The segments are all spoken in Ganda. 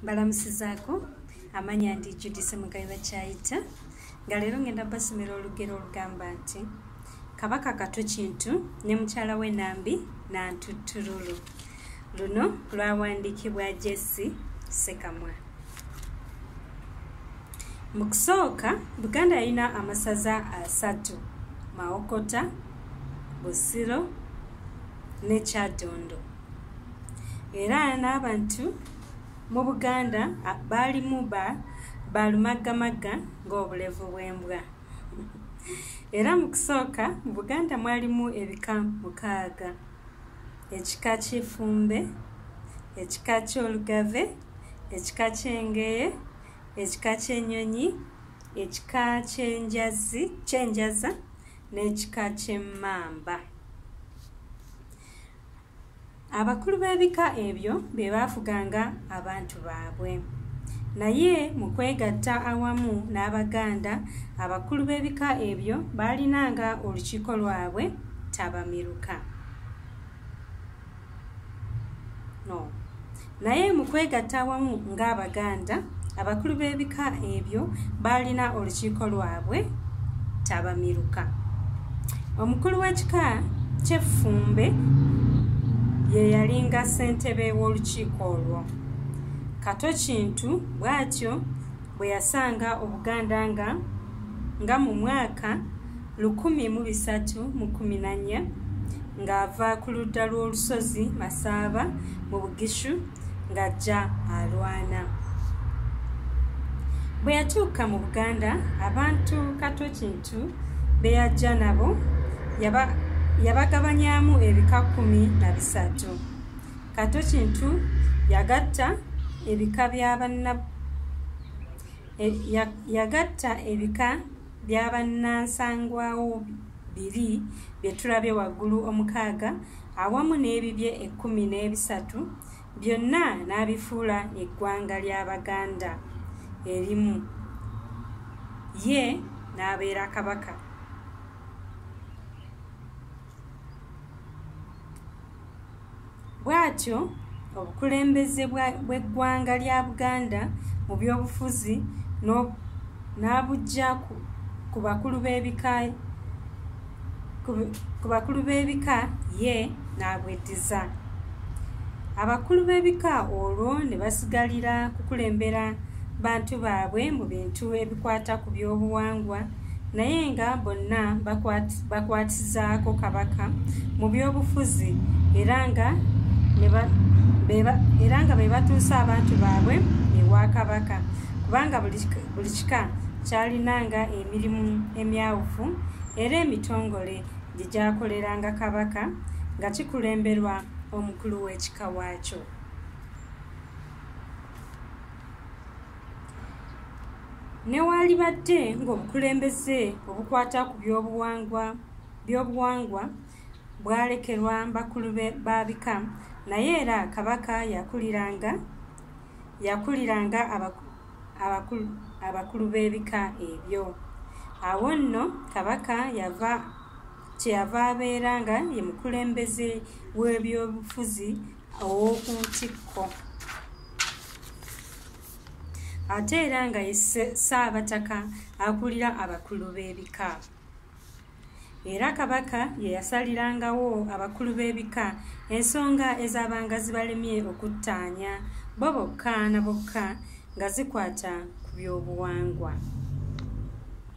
mbalamusizaako amanya ndi judisi mugabe bakyayita nga leero ngenda basomera olugero olugamba nti kabaka kato kintu ne mukyala we nambi nantuttululu luno lwawandiikibwa jesi sekamwa mu kusooka buganda yalina amasaza asatu mawokota busiro ne kyadondo era n'abantu mu buganda baalimu ba balumaggamagga ng'obulevu bw'embwa era mu kusooka mu buganda mwalimu ebika mukaaga ekika ky'efumbe ekika ky'olugave ekika ky'engeye ekika ky'enyonyi ekika ky'enjazi ky'enjaza n'ekika ky'emmamba abakulu b'ebika ebyo be baafuganga abantu baabwe naye mu kwegatta awamu n'abaganda abakulu b'ebika ebyo baalinanga olukiiko lwabwe tabamiruka no naye mu kwegatta awamu ng'abaganda abakulu b'ebika ebyo baalina olukiiko lwabwe tabamiruka omukulu w'ekika ky'effumbe ye yalinga ssentebe w'olukiiko olwo kato kintu bw'atyo bwe yasanga obuganda nga nga mu mwaka lukumi mu bisatu mu kumi na nnya ng'ava ku ludda lw'olusozi masaaba mu bugishu ng'ajja alwana bwe yatuuka mu buganda abantu kato kintu be yajja nabo yabagabanyamu ebika kumi na bisatu kato kintu yagatta ebika bya banna e, yagatta ebika byabannansangwawo biri bye tulabye waggulu omukaaga awamu n'ebibye ekkumi n'ebisatu byonna n'abifuula eggwanga ly'abaganda erimu ye n'abeera kabaka bwatyo obukulembeze bw'eggwanga lya buganda mu byobufuzi n'abujja ku bakulu b'ebika ku bakulu b'ebika ye n'abweddiza abakulu b'ebika olwo ne basigalira kukulembera bantu baabwe mu bintu ebikwata ku byobuwangwa naye nga bonna bakwatizaako kabaka mu byobufuzi era nga era nga be batuusa abantu baabwe ewa kabaka kubanga buli kika kyalinanga emirimu emyawufu era emitongole gye gyakoleranga kabaka nga kikulemberwa omukulu w'ekika waakyo newaalibadde ng'obukulembeze obukwata ku byobuwangwa byobuwangwa bwalekerwa bakulu ba bika naye era kabaka yakuliranga yakuliranga abakulu b'ebika ebyo awo nno kabaka yava kyeyava abeera nga ye mukulembeze w'ebyobufuzi ow'oku ntikko ate era nga ye ssaabataka akulira abakulu b'ebika era kabaka ye yasalirangawo abakulu b'ebika ensonga ezabanga zibalemye okuttaanya bo bokka na bokka nga zikwata ku by'obuwangwa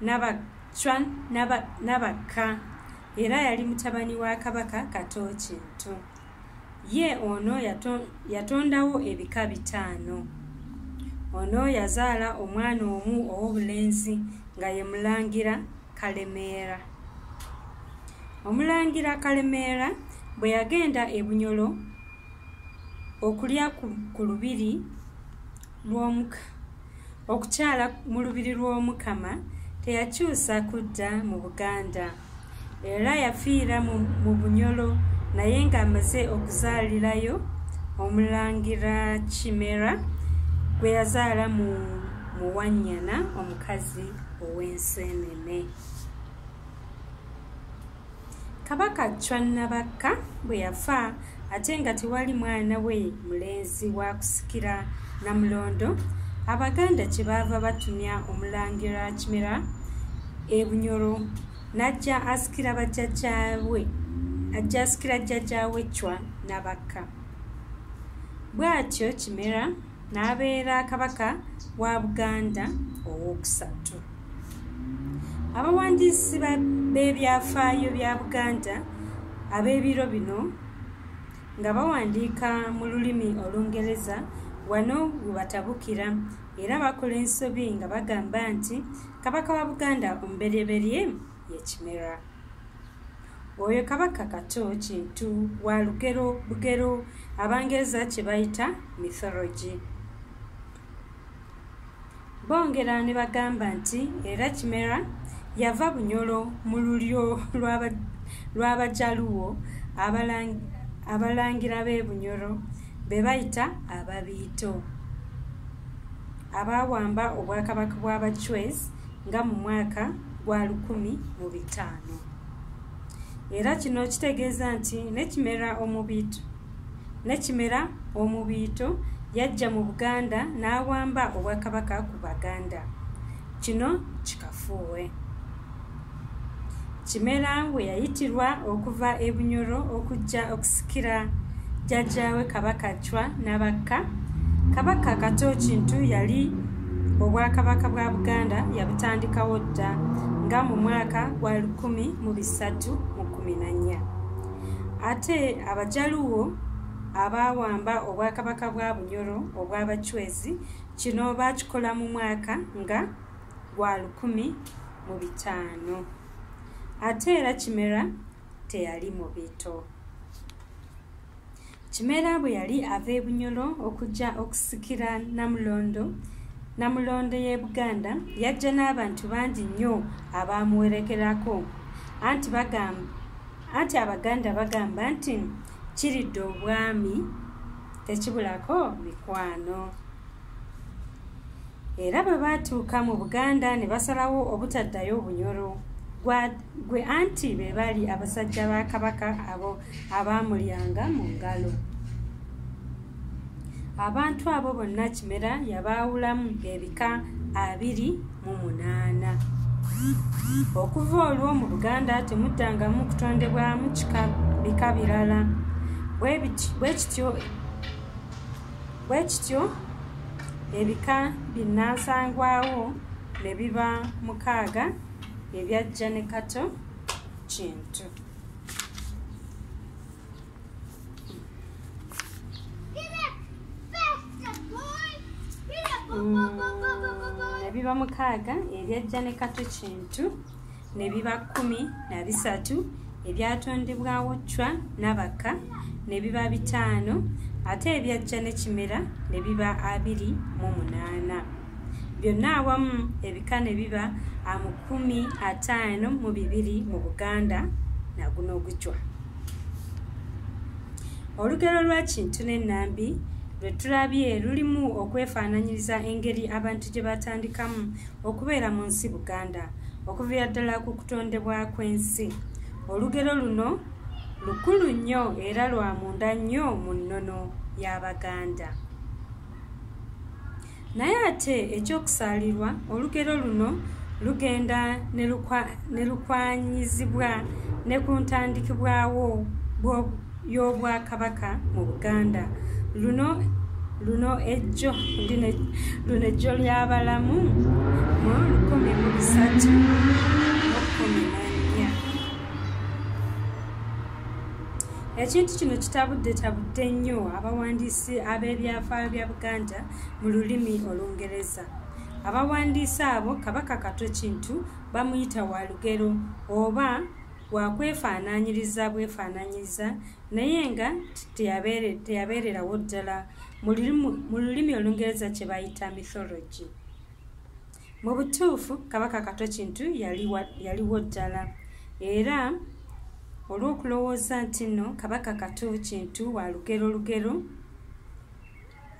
nabacwa nabakka era yali mutabani wa kabaka kato kintu ye ono yatondawo ebika bitaano ono yazaala omwana omu ow'obulenzi nga ye mulangira kalemeera omulangira kalemeera bwe yagenda e bunyolo okulya ku lubiri okukyala mu lubiri lw'omukama teyakyusa kudda mu buganda era yafiira mu bunyolo naye ng'amaze okuzaalirayo omulangira kimera gwe yazaala mu muwannyana omukazi ow'enseenene Kabaka Chwa Nabakka bwe yafa ate nga tewali mwana we mulenzi wa kusikira Namulondo, Abaganda kye baava batumya Omulangira Kimera e Bunyoro n'ajja asikira bajjajjaawe ajja asikira jjajjaawe Chwa Nabakka. Bw'atyo Kimera n'abeera kabaka wa buganda ow'okusatu abawandiisi b'ebyafaayo bya buganda ab'ebiro bino nga bawandiika mu lulimi olungereza wano webatabukira era bakola ensobi nga bagamba nti kabaka wa buganda omuberyeberye ye kimera oyo kabaka kato kintu wa lugero bugero abangereza kye bayita mythology bongera ne bagamba nti era kimera yava bunyolo mu lulyo lw'abajaluwo abalangira b'e bunyolo be bayita ababiito abaawamba obwakabaka bw'abachwezi nga mu mwaka gwa lukumi mu bitaano era kino kitegeeza nti nekimera omubiito nekimera omubiito yajja mu buganda n'awamba obwakabaka ku baganda kino kikafuuwe Kimera we yayitirwa okuva e Bunyoro okujja okusikira jjajjaawe Kabaka Chwa Nabakka. Kabaka Kato Kintu yali obwakabaka bwa Buganda yabutandikawo dda nga mu mwaka gwa lukumi mu bisatu mu kumi na nnya. Ate Abajaluwo abaawamba obwakabaka bwa Bunyoro obw'Abachwezi kino baakikola mu mwaka nga gwa lukumi mu bitaano ate era kimera teyali mu bito kimera bwe yali ava ebunyolo okujja okusikira namulondo namulondo y'e buganda yajja n'abantu bangi nnyo abaamuwerekerako anti bagamba anti abaganda bagamba nti kiridde obwami tekibulako mikwano era bwe baatuuka mu buganda ne basalawo obutaddayo obunyoro gwe anti be baali abasajja ba kabaka abo abaamulyanga mu ngalo abantu abo bonna kimera yabaawulamu ebika abiri mu munaana okuva olwo mu buganda temuddangamu kutondebwamu bika birala bwe kityo bwe kityo ebika binnansangwawo ne biba mukaaga ebyajja ne kato kintu mm, ebiba mukaaga ebyajja ne kato kintu mm. ne biba kkumi na bisatu ebyatondebwawo cwa n'abaka ne biba bitaano ate ebyajja ne kimera ne biba abiri mu munaana byonna awamu ebika ne biba amukumi ataano mu bibiri mu buganda naguno ogujwa olugero lwa kintu n'ennambi lwe tulabye lulimu okwefaananyiriza engeri abantu gye batandikamu okubeera mu nsi buganda okuvira ddala ku kutondebwa kw'ensi olugero luno lukulu nnyo era lwa munda nnyo mu nnono y'abaganda naye ate ekyokusaalirwa olugero luno lugenda ne lukwanyizibwa ne ku ntandikibwawo bw'obukugu y'obwakabaka mu buganda luno luno ejjo luno ejjo ly'abalamu mu lukumi mu bisatu okumi nannya ekintu kino kitabudde tabudde nnyo abawandiisi ab'ebyafaayo bya buganda mu lulimi olungereza abawandiisi abo kabaka katwe kintu bamuyita wa lugero oba wakwefaananyiriza bwefaananyiza naye nga teyabeererawo ddala mu lulimi olungereza kye bayita mythology mu butuufu kabaka kato kintu yaliwo ddala era olw'okulowooza nti nno kabaka kato kintu wa lugero lugero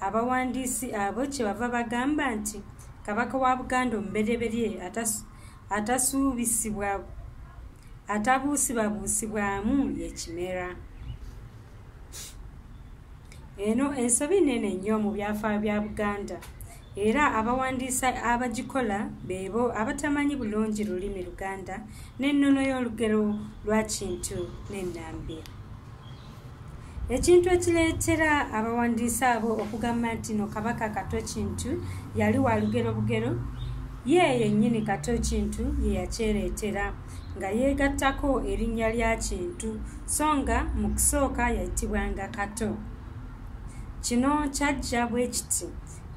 abawandiisi abo kye bava bagamba nti kabaka wa buganda omubereberye atasuubisibwa atabuusibabuusibwamu yekimera eno ensobi nene nnyo mu byafaayo bya buganda era abawandiisa abagikola beebo abatamanyi bulungi lulimi luganda n'ennono y'olugero lwa kintu n'ennambi ekintu ekireetera abawandiisi abo okugamba nti no kabaka kato kintu yali wa lugero bugero ye yennyini kato kintu ye yakyereetera nga yeegattako erinnya lya kintu so nga mu kusooka yayitibwanga kato kino kyajja bwe kiti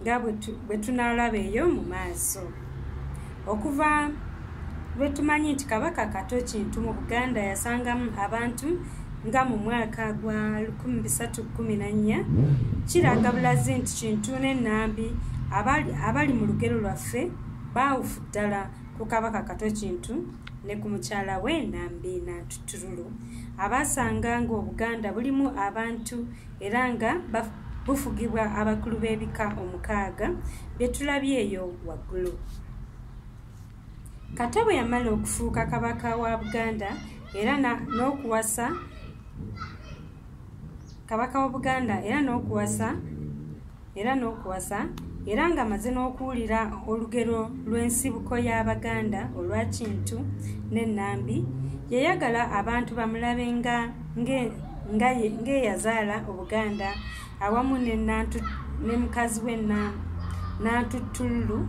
nga bwe tunaalaba eyo mu maaso okuva lwe tumanyi nti kabaka kato kintu mu buganda yasangamu abantu nga mu mwaka gwa 1314 kiraga bulazi nti kintu n'ennambi abali mu lugero lwaffe baawufu ddala ku kabaka kato kintu ne ku mukyala we nambi nantutululu abaasanga ng'obuganda bulimu abantu era nga bufugibwa abakulu b'ebika omukaaga byetulabye eyo waggulu kata bwe yamala okufuuka kabaka wa buganda era n'okuwasa kabaka wa buganda era n'okuwasa era n'okuwasa era ng'amaze n'okuwulira olugero lw'ensibuko y'abaganda olwa kintu n'ennambi yayagala abantu bamulabe nga ng'eyazaala obuganda awamu ne mukazi we nantuttululu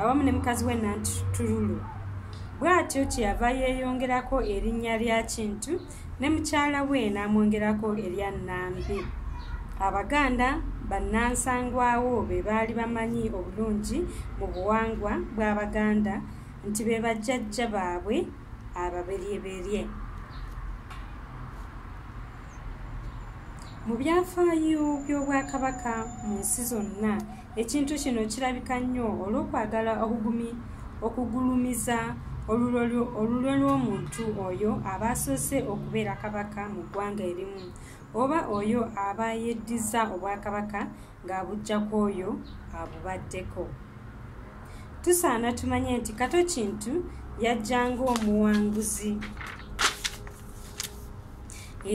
awamu ne mukazi we nantuttululu bw'atyo kyeyava yeeyongerako erinnya lya kintu ne mukyala we n'amwongerako erya nnambi abaganda bannansangwawo be baali bamanyi obulungi mu buwangwa bw'abaganda nti be bajjajja baabwe ababeryeberye mu byafaayo by'obwakabaka mu nsi zonna ekintu kino kirabika nnyo olw'okwagala okugumi okugulumiza olulwe lw'omuntu oyo aba asoose okubeera kabaka mu ggwanga erimu oba oyo aba yeddiza obwakabaka ng'abujja ku oyo abubaddeko tusaana tumanye nti kato kintu yajja ng'omuwanguzi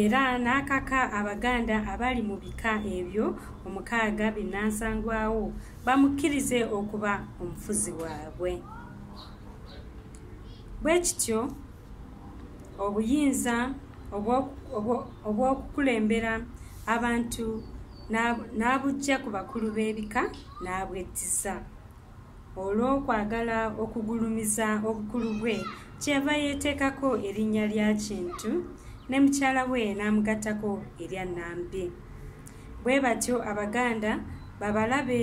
era n'akaka abaganda abali mu bika ebyo omukaaga binnansangwawo bamukkirize okuba omufuzi waabwe bwe kityo obuyinza obw'okukulembera abantu n'abujja ku bakulu b'ebika n'abwettiza olw'okwagala okugulumiza obukulu bwe kyeyava yeeteekako erinnya lya kintu ne mukyala we n'amugattako erya nambi bwe batyo abaganda babalabe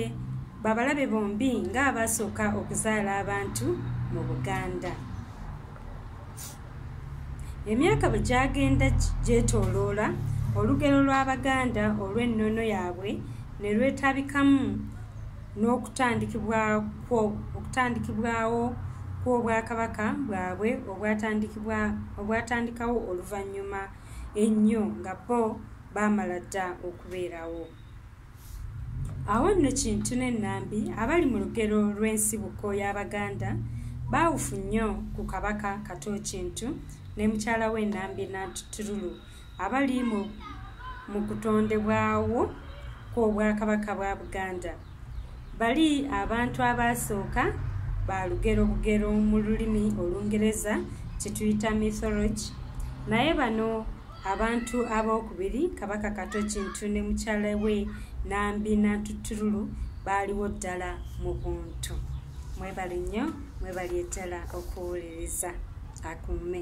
babalabe bombi ng'abaasooka okuzaala abantu mu buganda emyaka bwe gyagenda gyetooloola olugero lw'abaganda olw'ennono yaabwe ne lwetabikamu n'okutandikibwawo kw'obwakabaka bwabwe obwatandikawo oluvannyuma ennyo nga bo baamala dda okubeerawo awo nno kintu n'ennambi abali mu lugero lw'ensibuko y'abaganda baawufu nnyo ku kabaka kato kintu ne mukyala w'ennambi natutululu abali mu mu kutondebwawo kw'obwakabaka bwa buganda bali abantu abaasooka ba lugero bugero mu lulimi olungereza kyetuyita mythology naye bano abantu ab'okubiri kabaka kato kintu ne mukyala we nambi nantutululu baaliwo ddala mu buntu mwebale nnyo mwebali eddala okuwuliriza akuume